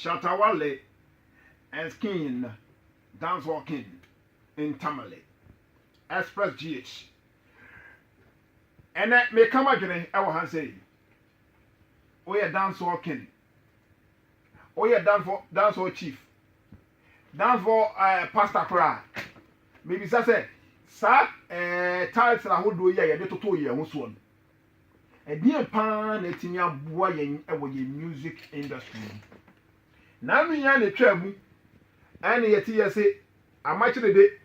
Shatta Wale and Skin Dancehall King in Tamale Express GH. Ɛnɛ meka m'adwene ɛwɔ ha sɛ woyɛ dancehall king, woyɛ dancehall, dancehall chief, dancehall uh, pastor koraa. Mebisa sɛ saa uh, title ahodoɔ yi a yɛde totoo yɛn ho soɔ no, Ɛdeɛn paa na atumi aboa yɛn wɔ yɛn music industry mu? Nnaano yi ara na ɛtwaa mu ɛne yɛte yɛ se Amakye Dede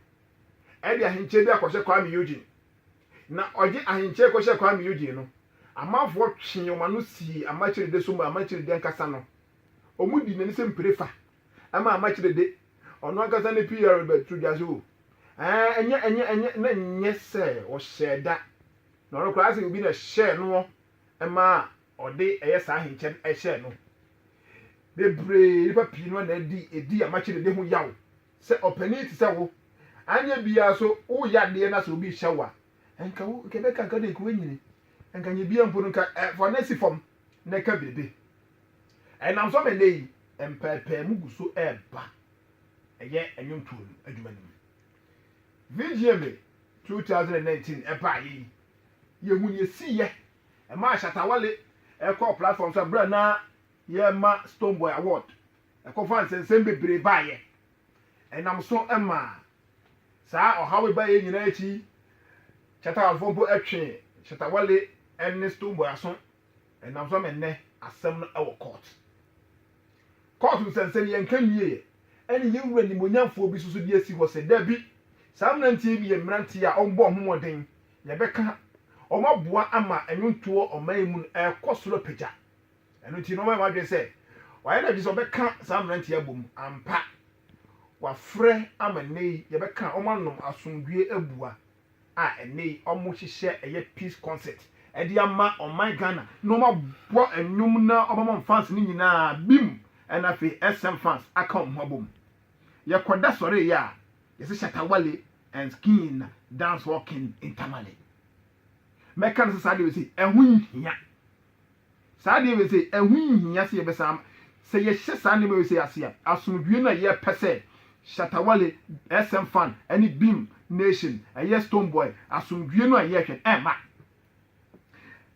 ɛde ahenkyɛ bi akɔhyɛ Kwame Eugene na ɔgye ahenkyɛ kɔhyɛ Kwame Eugene no amanfoɔ twee wɔn ano sii Amakye Dede so ma Amakye Dede ankasa no wɔn di n'ani sɛ mpire fa ɛma Amakye Dede ɔno ankasa ne PR bɛto dwa so ɛnyɛ ɛnyɛ ɛnyɛ na nyɛ sɛ ɔhyɛɛ da Na ɔno koraa sɛ obi na ɛhyɛɛ noɔ maa ɔde ɛyɛ saa ahenkyɛ no ɛhyɛɛ no. Bebree, nnipa pii no na ɛdi ɛdi amakye dede ho yaw. Sɛ ɔpanin te sɛ wo, anyɛ biara so woyɛ adeɛ na sɛ obi hyɛ wo a, nka wo, nka ɛbɛka nka deɛ nka woanyini. Nka nyɛ biara mpo no nka ɛ, fa na si fam na ɛka biribi. Ɛnam so ama nnɛ yi, mpɛɛpɛɛmu gu so ɛreba ɛyɛ nnwomtoɔ no adwuma no mu. Vigye me two thousand and nineteen ɛbaeɛ yi, yɛhu nea ɛsiiɛ. Ɛmaa Shatta Wale kɔɔ platform so berɛ a na yɛrema Stonebwoy Award. Ɛkɔfaa nsɛnsɛm bebree baeɛ. Ɛnam so maa saa ɔhaw yi baeɛ nyinaa akyi, Chattawalefoɔ mpo twee Shatta Wale ne Stonebwoy aso. Ɛnam so ama nnɛ asɛm no wɔ kɔɔt. Kɔɔt nsɛnsɛnniɛ nka nwieɛ ɛne yɛn wura nimuonyamfoɔ bi so so de asi hɔ sɛ dabi saa mmeranteɛ bi yɛ mmeranteɛ a wɔbɔ wɔn ho mmɔden yɛbɛka wɔn aboa ama nnwontoɔ ɔman yi mu no ɛrekɔ soro apagya ɛno nti na wɔayɛ wɔn adwene sɛ wɔayɛ no agye sɛ wɔbɛka saa mmeranteɛ abom ampa wɔafrɛ ama nnɛ yi yɛbɛka wɔn anom asomdwoeɛ abua a ɛnnɛ yi wɔhyehyɛ ɛyɛ peace concert de ama ɔman Ghana na wɔabɔ nnwom na wɔama wɔn fans no nyinaa bem na afei SM fans aka wɔn ho abom. Yɛkɔda sɔreeɛ a yɛse Shatta Wale and Skin na dancehall king Ntamale. Mɛka no sɛ saa deɛ wei sei ɛho nhia. Saa adeɛ wei sei, ɛho nhia sɛ yɛbɛsan ama. Sɛ yɛhyɛ saa nneɛma wei sei ase a, asomdwoeɛ no a yɛpɛ sɛ Shatta Wale, SM Fan, ne Beam Nation, ɛyɛ Stonebwoy, asomdwoeɛ no a yɛhwɛ no, ɛmma.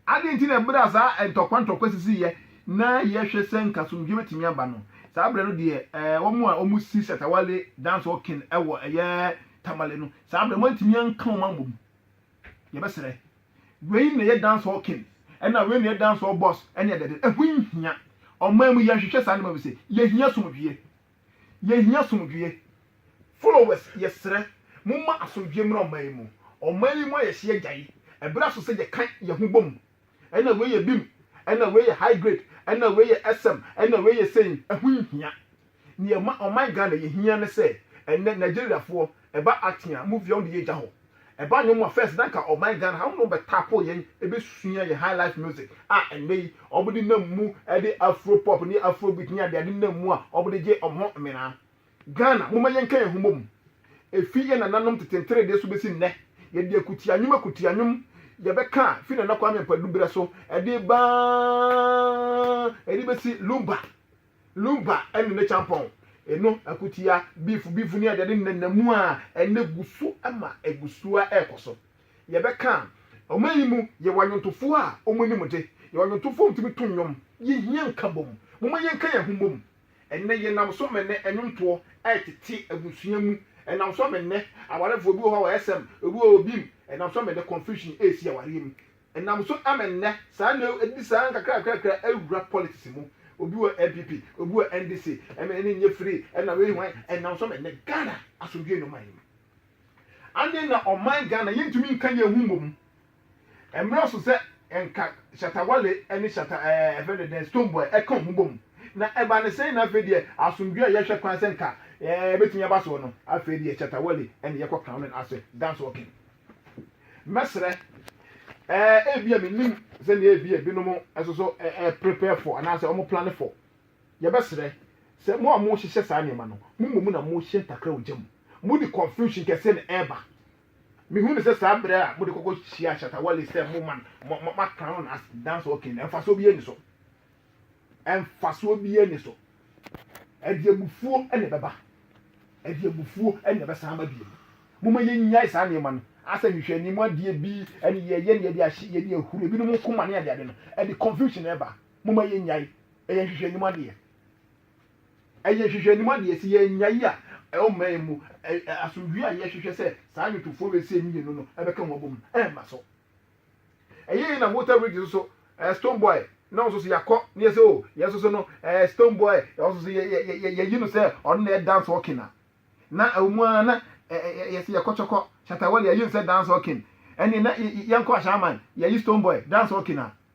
Adeɛ nti na berɛ a saa ntɔkwa ntɔkwa sisiiɛ na yɛhwɛ sɛ nka asomdwoeɛ bɛtumi aba no, saa berɛ no deɛ ɛɛ wɔn a wɔsi Shatta Wale Dancehall King wɔ ɛyɛ Tamale no, saa berɛ no wɔantumi anka wɔn ammɔ mu. Yɛbɛsrɛ. Wei na ɛyɛ dancehall king ɛna wei na ɛyɛ dancehall boss ɛne ɛdɛde. Ɛho nhia. Ɔman mu yɛnhwehwɛ saa nneɛma wei sei. Yɛhia asomdwoeɛ. Yɛhia asomdwoeɛ. Followers yɛsrɛ momma asomdwoeɛ mmra ɔman yi mu. Ɔman yi mu ayɛ hye agyae. Ɛberɛ aso sɛ yɛka yɛn ho bom. ɛna wei yɛ bim, ɛna wei yɛ high grade, ɛna wei yɛ SM, ɛna wei yɛ sei, ɛho nhia. Nea ɛma ɔman Ghana yɛ hia ne sɛ, ɛnnɛ Nigeriafoɔ, ɛba acting a, movie a wɔn de yɛ gya hɔ. Ɛba nnwom a, first na anka ɔman Ghana ha, wɔn na wɔbɛ tapo yɛn, bɛsua yɛn high life music a ɛnnɛ yi wɔde nam mu de Afro pop ne Afrobeat ne adeade nam mu a wɔde gye wɔn ho mmena. Ghana, momma yɛnka yɛn ho mmom. Efi yɛn nananom tete nteredee so besi nnɛ, yɛde akutia nnwom akutia nnwom yɛbɛka a, fi Nana Kwame Ampadu bere so de reba ara de besi Lumba, Lumba ne ne kyampɔn no, akutia, beef, beef ne adeade nenam mu a, ɛnnɛ egu so ma egu so ara ɛrekɔ so. Yɛbɛka a, ɔman yi mu, yɛwɔ anwontofo a wɔn anim de, yɛwɔ anwontofo a wɔtumi to nnwom. Yehia nkabom. Momma yɛnka yɛn ho mmom. Ɛnnɛ, yɛnam so ma nnɛ nnwontoɔ retete abusua mu. Ɛnam so ma nnɛ awarefoɔ bi wɔ hɔ a wɔsɛm, obi wɔ hɔ a obim. Ɛnam so ma nnɛ confusion resi awareɛ mu. Ɛnam so ma nnɛ saa na ɛdi saa nkakrakrakra awura politics mu. Obi wɔ NPP, obi wɔ NDC, ɛma ɛnne nyɛ free, ɛnam wei hwan. Ɛnam so ma nnɛ Ghana asomdwoeɛ nni ɔman no mu. Andeɛ na ɔman Ghana yɛntumi nka yɛn ho mmom. Ɛmmerɛ so sɛ nka Shatta Wale ne Shatta ɛɛ ɛfrɛ no dɛn Stonebwoy ɛka wɔn ho bom. Na ɛba no sɛn na afei deɛ asomdwoeɛ a yɛhwɛ kwan sɛ nka ɛɛ ɛbɛtumi aba soɔ no afei deɛ Shatta Wale ɛna yɛkɔ crown no as dance walking. Mɛsrɛ ɛɛ ebia mennim sɛdeɛ ebia ebinom nso so ɛɛ prepare for anaasɛ wɔn plane for. Yɛbɛsrɛ sɛ mo a mohyehyɛ saa nneɛma no, mo mmom na mohyɛ ntakra ogya mu. Mode confusion kɛseɛ na ɛreba. Mehu no sɛ saa berɛ a mode kɔkɔ hyia Shatta Wale sɛ mo man, mo, mo a crown no as dancehall king no, mfasoɔ biara nni so. Mfasoɔ biara nni so. Ɛde abufuo na ɛbɛba. Ɛde abufuo na ɛbɛsan aba bio. Momma yɛnnyae saa nneɛma no. Asɛ nhwehwɛanim adeɛ bi na yɛyɛ na yɛde ahye, yɛde ahuru ebinom nkoma ne adeade no, ɛde confusion na ɛba. moma yɛnyae ɛyɛ nhwehwɛnim adeɛ ɛyɛ nhwehwɛnim adeɛ sɛ yɛnyae a ɛwɔ mma yɛn mu asomdwie a yɛhwehwɛ sɛ saa nnwotofoɔ bɛsɛ mmienu no ɛbɛka wɔn abom ɛmma so ɛyɛ yɛ na water bridge nso so ɛɛ stone boy na nso so yɛakɔ ne yɛsɛ o yɛn nso so no ɛɛ stone boy yɛn nso so yɛyi no sɛ ɔno na yɛ dance walking a na ɛwɔ mu ara na yɛsɛ yɛkɔ kyɔkɔ shatawale yɛyi no sɛ dance walking ɛne na yɛnkɔ ahyɛaman yɛyi stone boy dance walking a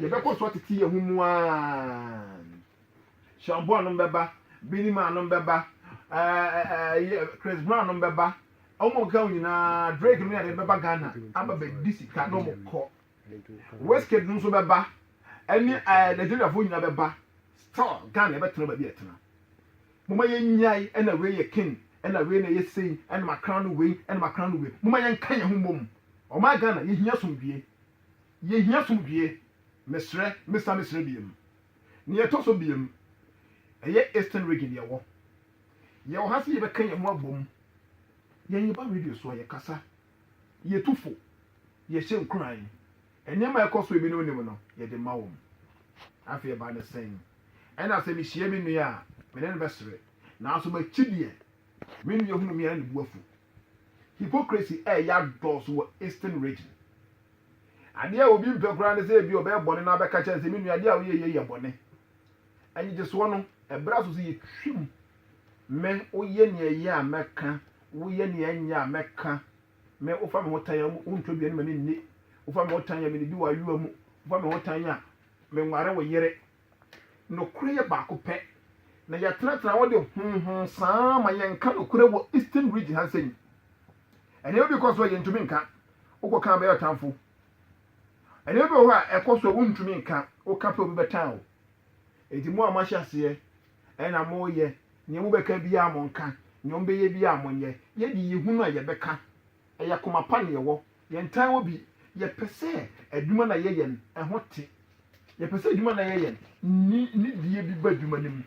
Yɛbɛkɔ so atete yɛn ho mu ann. Sean Boa nom bɛba, Beenie Man nom bɛba, ɛɛ Chris Brown nom bɛba, wɔn a wɔkeka ho nyinaa, Drake nom yɛ adeɛ bɛba Ghana aba bɛdi sika na wɔn kɔ. Wizkid nom nso bɛba, ɛne ɛɛ Nigeriafoɔ nyinaa bɛba, still Ghana yɛbɛtena baabi a yɛtena. Moma yɛn nyae ɛna wei yɛ king, ɛna wei na ɛyɛ sei, ɛna ma crown no wei, ɛna ma crown no wei. Moma yɛn nka yɛn ho mmom. Ɔman Ghana yɛhia asomdwie, Yɛhia somdwie. Mesrɛ, mesa mesrɛ biam. Nea ɛtɔ so biam, ɛyɛ Eastern Region yɛwɔ. Yɛwɔ ha sɛ yɛbɛka yɛn ho abom. Yɛn yɛba radio so a, yɛkasa, yɛtu fo, yɛhyɛ nkuran. Nneɛma a ɛkɔ so a ebinom nnim no, yɛde ma wɔn. Afei ɛba ne sɛn? Ɛna sɛ mehyia me nua a, me ne no bɛsere. Nanso m'akyi deɛ, me nua hunu me a, na ne bo afu. Hypocrisy reyɛ adɔɔso wɔ Eastern Region. Adeɛ a obi mpɛ koraa ne sɛ ebia ɔbɛyɛ bɔne na abɛka kyerɛ no sɛ, me nua, adeɛ a woyɛ yei yɛ bɔne. Nnyegyesoɔ no, ɛberɛ aso sɛ yɛtwam. Me, woyɛ nea ɛyɛ a, mɛka. Woyɛ nea ɛnyɛ a, mɛka. Me, wofa me ho tan a, wontɔ aduane ma me nni. Wofa me ho tan a, mennidi w'ayowa mu. Wofa me ho tan a, menware wo yere. Nokorɛ yɛ baako pɛ, na yɛtenatena hɔ de honhon saa ara ma yɛnka nokorɛ wɔ Eastern Region ha nsɛnyi. Nneɛma bi kɔ so a yɛntumi nka, wokɔka a bɛyɛ ɔtamfo. Nneɛma bi wɔ hɔ a ɛkɔ so a wontumi nka, woka pɛ obi bɛtan wo. Enti mo a moahyɛ aseɛ ɛna moreyɛ, nea mobɛka biara monka, nea wɔbɛyɛ biara monyɛ. Yɛde yɛhunu a yɛbɛka, ɛyɛ komapa na yɛwɔ, Yɛntaa wɔ bi, yɛpɛ sɛ adwuma no a yɛyɛ no, ɛho te. Yɛpɛ sɛ adwuma no a yɛyɛ no, nni nidie bi ba adwuma no mu.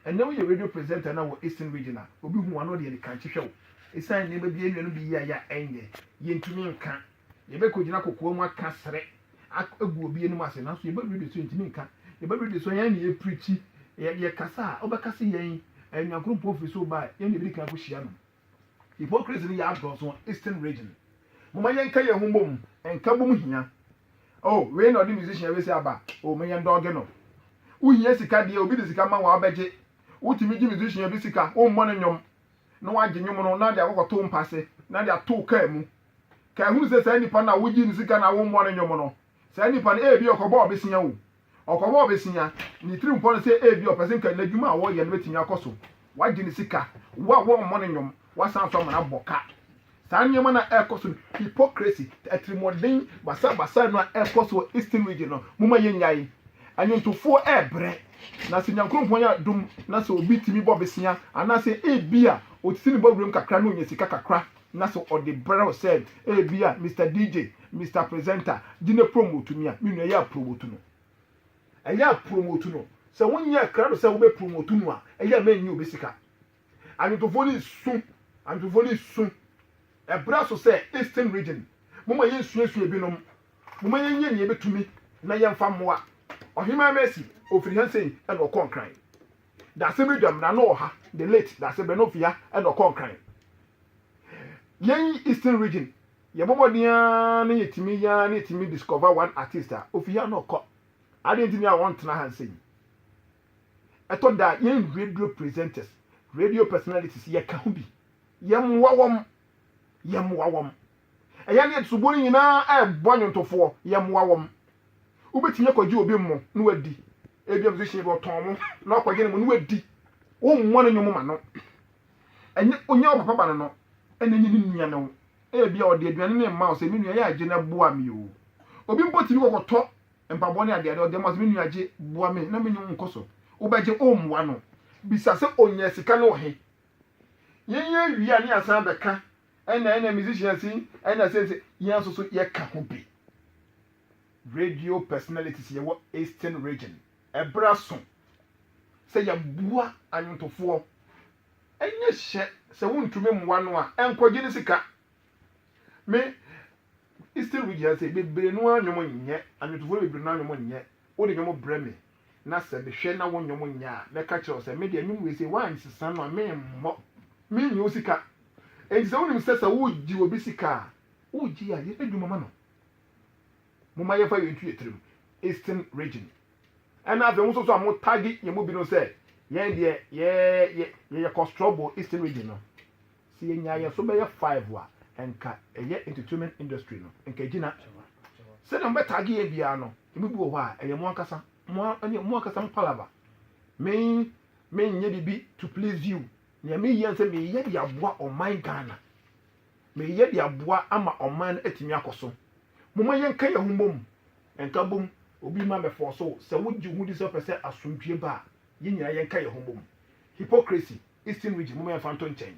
Ɛnnɛ woyɛ radio presenter na wɔ Eastern Region a, obi hu wo a na ɔde anikanhye hwɛ wo. Ɛsiane nneɛma bi a ɛnnuanom de yi ayɛ a ɛnyɛ, yɛntumi nka. Yɛbɛkɔgyina kokoa mu aka srɛ agu obi anim ase, nanso yɛba radio so a, yɛntumi nka. Yɛba radio so a, yɛn na yɛpreakyi. Yɛkasa a, wobɛka sɛ yɛn, Nyankorompo firi soro baeɛ, yɛn na yɛbɛdi kan akɔhyia no. Hypocrisy no yɛ adɔɔso wɔ Eastern region. Momma yɛnka yɛn ho mmom, nkabom hia. Oh, wei na ɔde musician wei sei aba, oh, ma yɛndɔɔge no. Wohia sika deɛ, obi de sika ma wo a, wobɛgye. Wotumi gye musician bi sika, wommɔ no nnwom, na woagye nnwom no na wode akɔkɔto mpa ase, na de ato wo kaa mu. Kae hunu sɛ saa nipa no a wogyee no sika no a wommɔɔ no nnwom no, saa nipa no, ebia ɔkɔbɔɔ bosea o. Ɔkɔbɔɔ bosea, ne tirim pɔ no sɛ ebia ɔpɛ sɛ nka n'adwuma a ɔreyɛ no bɛtumi akɔ so. Wagye ne sika, wo a wɔmmɔ no nnwom, wasan nso ama no abɔ ka. Saa nneɛma no a ɛrekɔ so no, hypocrisy, atirimuɔden basabasa no a ɛrekɔ so wɔ Eastern Region no, momma yɛnnyae. Nnwontofoɔ rebrɛ, na sɛ Nyankoropɔn yɛ adom na sɛ obi tumi bɔ bosea, anaasɛ ebia ɔsisi ne bɔ wuram kakra na ɔnya sika kakra, na sɛ ɔde brɛ wo sɛ ebia Mister DJ, Mister Presenter, gye na promote me a, me nua yɛ a promote no. Ɛyɛ a promote no. Sɛ wonyɛɛ krado sɛ wobɛ promote no a, ɛyɛ a ma ɛnyɛ obi sika. Anwontofoɔ no resu, anwontofoɔ no resu. Ɛbra so sɛ Eastern Region, momma yɛnsuasua ebinom. Momma yɛnyɛ nea yɛbɛtumi na yɛmfa mmoa. Ɔhemaa Mercy, ɔfiri Hansei na ɔkɔɔ Nkran. Dasebedwam na na ɔha, the late Dasebɛ na ofi ha na ɔkɔ Nkran. Yɛn Eastern region yɛbɔ mmɔden ara na yɛtumi yɛ ara na yɛtumi discover one artist a, ofi ha na ɔkɔ. Adeɛ nti ni a ɔntena ha nsɛnyi. Ɛtɔ da a, yɛn radio presenters, radio personalities, yɛka ho bi. Yɛmmoa wɔn. yɛmmoa wɔn. Ɛyɛ ne yɛte soboɔ no nyinaa rebɔ nnwontofoɔ, yɛmmoa wɔn. Wobɛtumi akɔgye obi mmo na wadi. Ebia musician bi ɔtɔn mo na wakɔgye ne mmo na wadi. Wommɔ ne nnwom mma no. Ɛnyɛ ɔnya wo papa ba no no na ɛnyɛ ne nua ne wo. Ebia ɔde aduane no rema wo sɛ, me nua yɛ a gye na boa me o. Obi mpo tumi kɔkɔtɔ mpaboa ne adeade ɔde ama wo sɛ, me nua gye boa me na me ne wo nkɔ so. Wobɛgye, wommoa no. Bisa sɛ, ɔnyaa sika no wɔ he? yɛnyɛ awie a ne yɛasan abɛka ɛna ɛna musicians yi ɛna sɛ sɛ yɛn nso so yɛka ho bi radio personalities yɛwɔ eastern region ɛberɛ aso sɛ yɛboa anwontofoɔ ɛnyɛ hyɛ sɛ wontumi mmoa no a ɛnkɔgye ne sika me eastern region sɛ bebree no a nnwom nyɛ anwontofoɔ no bebree no a nnwom nyɛ wode nnwom brɛ me na sɛ mehwɛ na wo nnwom nyɛ a, mɛka kyerɛ wo sɛ, Me deɛ, nnwom wei sei, woansesa no a, meremmɔ. Mennye wo sika. Enti sɛ wonim sɛ sɛ wogye obi sika a, wogye a, yɛ n'adwuma ma no. Momma yɛmfa wei nto yɛn tirim, Eastern Region. Ɛnna afei mo nso so a motagi yɛn mu binom sɛ yɛn deɛ yɛyɛ kɔstrɔbo Eastern Region no, Sɛ yɛnya yɛn so bɛyɛ five a nka ɛyɛ entertainment industry no nka egyina. Sɛdeɛ mo bɛ tag yɛn biara no emu bi wɔ hɔ a ɛyɛ mo ankasa mo ɛne mo ankasa mo palava. Me me nyɛ bibi to please you. Nea me yɛ nsɛ me yɛ de aboa ɔman Ghana. Me yɛ de aboa ama ɔman no atumi akɔ so. Mo ma yɛn ka yɛn ho mmom. Nka bom obi ma bɛ fɔɔso wo sɛ wo gye wo ho di sɛ wo pɛ sɛ asomdwie ba a yɛn nyinaa yɛn ka yɛn ho mmom. Hypocrisy. Eastern region moma yɛnfa nto nkyɛn.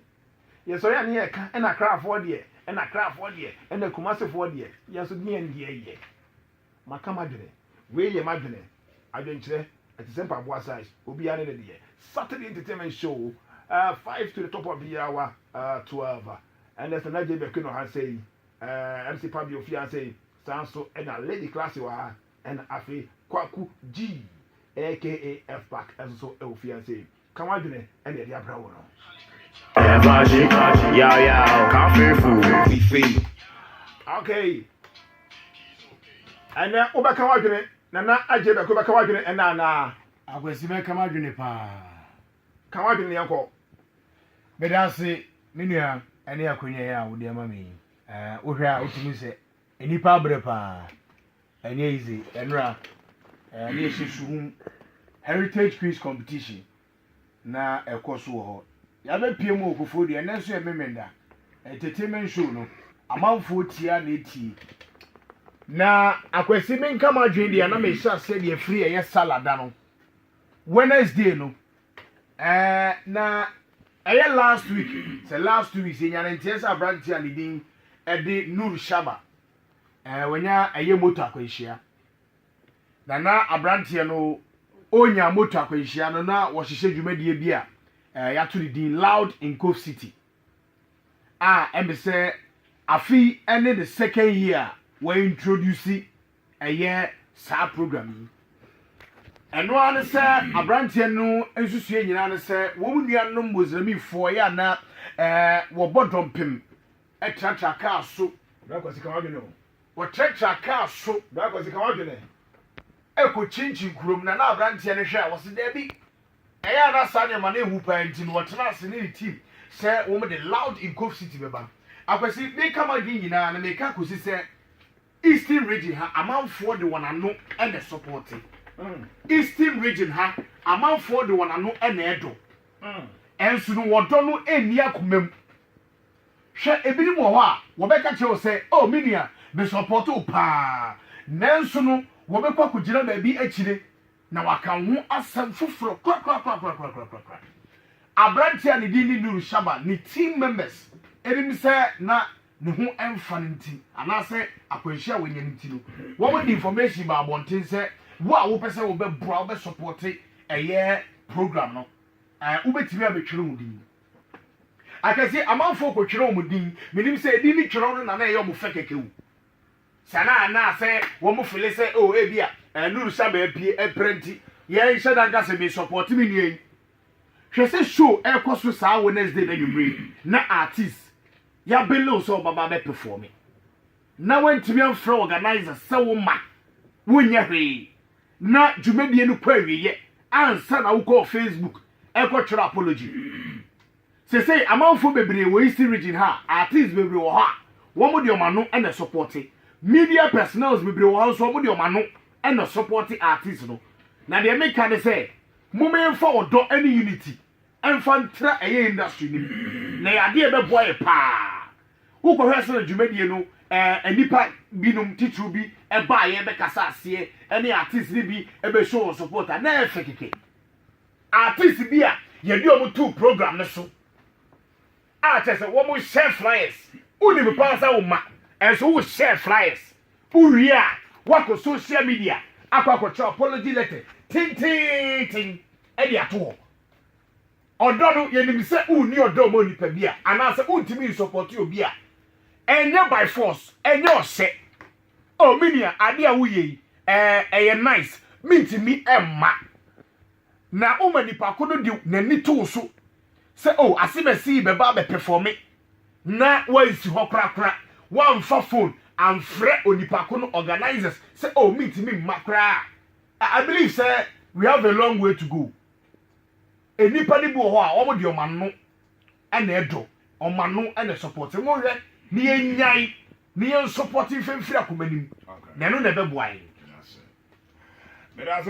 Yɛn sɔre a ne yɛ ka ɛna Accra foɔ deɛ ɛna Accra foɔ deɛ ɛna Kumasi foɔ deɛ yɛn nso deɛ ne deɛ yɛ. Maka m'adwene. Wei yɛ m'adwene. Adwenkyerɛ. Ɛte sɛ mpaboa size. Obiara ne ne deɛ. Saturday entertainment show uh, five to the top of the hour uh, twelve. Ɛnna ɛsɛ na JB Aquino ha sɛ yi. Uh, MC Pabio fi ha sɛ yi. Saa nso ɛna Lady Classy wɔ ha. Ɛna afei Kwaku G aka F-Pack ɛnso so ɛwɔ fi ha sɛ yi. Ka w'adwene na yɛde abrɛ wo no. Ɛyɛ fahye, yaw yaw, cafe food. We fei. Okay. Ɛnɛ wobɛka w'adwene, Nana Agye Bɛko bɛka w'adwene ɛnɛ anaa? Akwasi mɛka m'adwene paa. Ka w'adwene na yɛnkɔ. Meda ase me nua ɛne akwanya yi a wode ama me yi. Wohwɛ a wotumi sɛ Nnipa abrɛ paa. Ɛnyɛ easy. Ɛnora ɛɛ ne yɛhyɛ suhum heritage quiz competition na ɛkɔ so wɔ hɔ. Yɛabɛpie mu wɔ Kufuor deɛ ɛnɛ nso yɛ Memenda entertainment show no. Amanfoɔ tia na ɛtie. Na Akwasi menka m'adwene deɛ na mehyɛ aseɛ deɛ firi ɛyɛ Salah da no Wednesday no Eh na ɛyɛ last week sɛ last two weeks yɛnya ne nteɛ sɛ aberanteɛ a ne din ɛde Nur Shaba eh wanya ɛyɛ moto akwanhyia na na aberanteɛ no ɔnya moto akwanhyia no na wɔhyehyɛ dwumadie bi a eh yɛato ne din Loud in Cove City a ɛmɛ sɛ afei ɛne the second year a wɔintroduce ɛyɛ saa program yi. Ɛno ara ne sɛ aberanteɛ no nsusuiɛ nyinaa ne sɛ wɔn nuanom Muslimfoɔ yɛ ana ɛɛ wɔbɔ dɔmpem tratra kaa so. Brakwasi ka wadwene o. Wɔtratra kaa so. Brakwasi ka wadwene. Ɛkɔ kyinkyin kurom na na aberanteɛ no hwɛ a wɔse daabi. Ɛyɛ a na saa nneɛma no nhu paa nti no wɔtena ase ne ne team sɛ wɔn de Loud Nkoff City bɛba. Akwasi, meka m'adwene nyinaa na meka kɔsi sɛ. Eastern region ha amanfoɔ de wɔn ano na ɛsɔpɔɔte Eastern region ha amanfoɔ de wɔn ano na ɛdɔ nso no wɔdɔ no nni akoma mu hwɛ ebinom wɔ hɔ a wɔbɛka kyerɛ wo sɛ oh me nua mesɔpɔɔte wo paa nanso no wɔbɛkɔ akɔgyina baabi akyire na waka wo ho asɛm foforɔ korakorakorakorakorakorakora aberanteɛ a ne din ne Nuru Shaba ne team members anim sɛ na ne ho mfa no nti anaasɛ akwanhyia a wanya no nti no, wɔde information baa abɔnten sɛ wo a wopɛ sɛ wobɛboa, wobɛsɔpɔte ɛyɛ program no, ɛɛ, wobɛtumi abɛtwerɛ wo din. Akɛseɛ, amanfoɔ kɔtwerɛ wɔn din, menim sɛ ɛdin no twerɛ no na na ɛyɛ wɔn fɛ kɛkɛ o. Saa na anaasɛ wɔn fele sɛ, oh, ebia, ɛɛ, Nuru Sama apue, ɛpra nti, yɛnhyɛ da nka sɛ mesɔpɔte me nua yi. Hwɛ sɛ show ɛkɔ so saa Wednesday no anwummere yi na artist yɛabele wo sɛ wobɛba abɛpefɔɔme na woantumi amfrɛ organiser sɛ wo mma wonyɛ hwee na dwumadie no kɔ awieɛ ansa na wokɔɔ Facebook ɛkɔtwerɛ apology. Sesei amanfoɔ bebree wɔ Eastern region ha a artist bebree wɔ hɔ a wɔn de wɔn ano na ɛsɔpɔte media personnels bebree wɔ hɔ nso wɔn de wɔn ano na ɛsɔpɔte artist no na deɛ meka ne sɛ Moma yɛmfa ɔdɔ ne unity mfa ntra ɛyɛ industry no mu na ɛyɛ adeɛ a ɛbɛboa yɛ paa. Wokɔhwɛ sɛdeɛ dwumadie no ɛɛ nnipa binom titiriw bi baeɛ bɛkasa aseɛ ɛne artist no bi bɛ show wɔn support a na ɛyɛ fɛ kɛkɛ. Artist bi a yɛde wɔn too program no so. a kyerɛ sɛ wɔn hyɛ flyers wonim paa sɛ wo ma ɛnso wo hyɛ flyers wowie a wakɔ social media akɔ akɔkyerɛ apology letter tenteenten ɛde ato hɔ ɔdɔ no yɛnim sɛ wonni ɔdɔ ma nipa bi a anaasɛ wontumi nsɔpɔte obi a ɛnyɛ by force ɛnyɛ ɔhyɛ ɔmenia oh, ade a woyɛ yi ɛyɛ nice mentumi ɛmma Na wo ma nipa ko no de n'ani to wo so sɛ oh Asemasi yi bɛba abɛpɛfɔme na wansi hɔ korakora, wamfa phone amfrɛ onipa ko no, organisers sɛ oh mentumi mma koraa a, I believe sɛ we have a long way to go. Nnipa no bi wɔ hɔ a wɔn deɛ wɔn ano na ɛdɔ, wɔn ano na ɛsɔpɔte. Monhwɛ na yɛnnyae na yɛnsɔpɔte mfa mfiri akoma no mu na ɛno na ɛbɛboa yɛn. Meda ase.